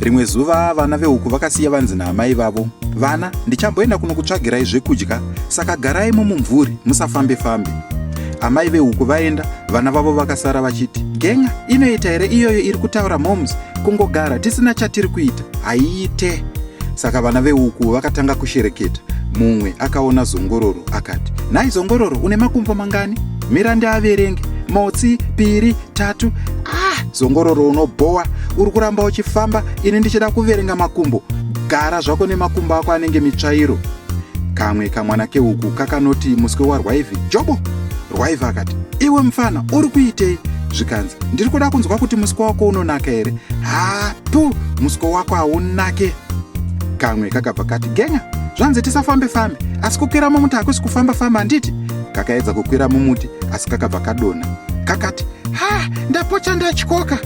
rimwe zuva vana vehuku vakasiya vanzi naamai vavo vana ndichamboenda kunokutsvagirai zvekudya saka garai mumumvuri musafambe fambe amai vehuku vaenda vana vavo vakasara vachiti gen'a inoita here iyoyo iri kutaura moms kungogara tisina chatiri kuita haiite saka vana vehuku vakatanga kushereketa mumwe akaona zongororo akati nhai zongororo une makumbo mangani mira ndiaverenge motsi piri tatu ah zongororo unobhowa uri kuramba uchifamba ini ndichida kuverenga makumbo gara zvako nemakumbo ako anenge mitsvairo kamwe kamwana keuku kakanoti muswe warwaive jobo rwaive akati iwe mfana uri kuitei zvikanzi ndiri kuda kunzwa kuti muswe wako unonaka here hatu muswe wako haunake kamwe kakabva kati genya zvanzi tisafambe fambe asi kukwira mumuti hakusi kufamba famba handiti kakaedza kukwira mumuti asi kakabva kadonha kakati ha ndapocha ndatyoka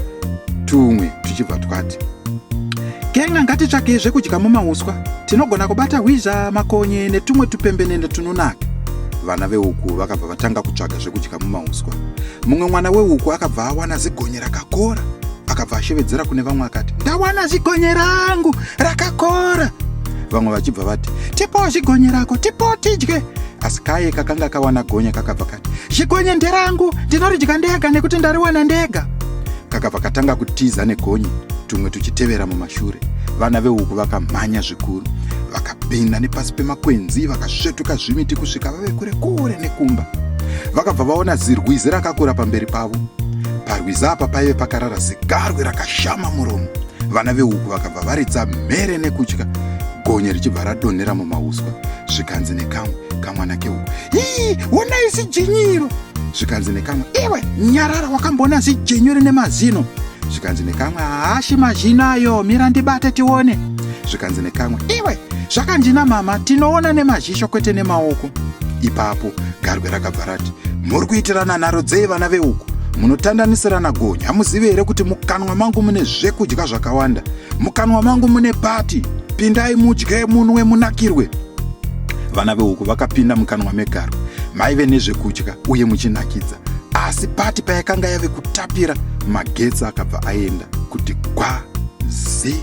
tumwe tuchibva twati Kenga ngatitsvakei zvekudya mumauswa, tinogona kubata hwizha, makonye netumwe tupembenene tunonaka. Vana veuku vakabva vatanga kutsvaga zvekudya mumauswa. Mumwe mwana weuku akabva awana zigonye rakakora, akabva ashevedzera kune vamwe akati, ndawana zigonye rangu rakakora. Vamwe vachibva vati, tipowo zigonye rako, tipowo tidye. Asi kaye kakanga kawana gonye kakabva kati, zigonye nderangu, ndinoridya ndega nekuti ndariwana ndega. kakabva katanga kutiza negonye tumwe tuchitevera mumashure vana vehuku vakamhanya zvikuru vakapinda nepasi pemakwenzi vakasvetuka zvimiti kusvika vave kure kure nekumba vakabva vaona zirwizi rakakura pamberi pavo parwizi apa paive pakarara zigarwe rakashama muromo vana vehuku vakabva varidza mhere nekutya gonye richibva radonhera mumauswa zvikanzi nekamwe kamwana kehuku hii wonai sijinyiro zvikanzi nekamwe iwe nyarara wakamboona zijenyu rine mazino zvikanzi nekamwe haashi mazhino ayo mira ndibate tione zvikanzi nekamwe iwe zvakandina mama tinoona nemazhisho kwete nemaoko ipapo garwe rakabva rati muri kuitirana nharo dzei vana veuku munotandanisirana gonyi hamuzivi here kuti mukanwa mangu mune zvekudya zvakawanda mukanwa mangu mune pati pindai mudye munwe munakirwe vana vehuku vakapinda mukanwa megaro maive nezvekudya uye muchinakidza asi pati payakanga yave kutapira magetsi akabva aenda kuti gwa zii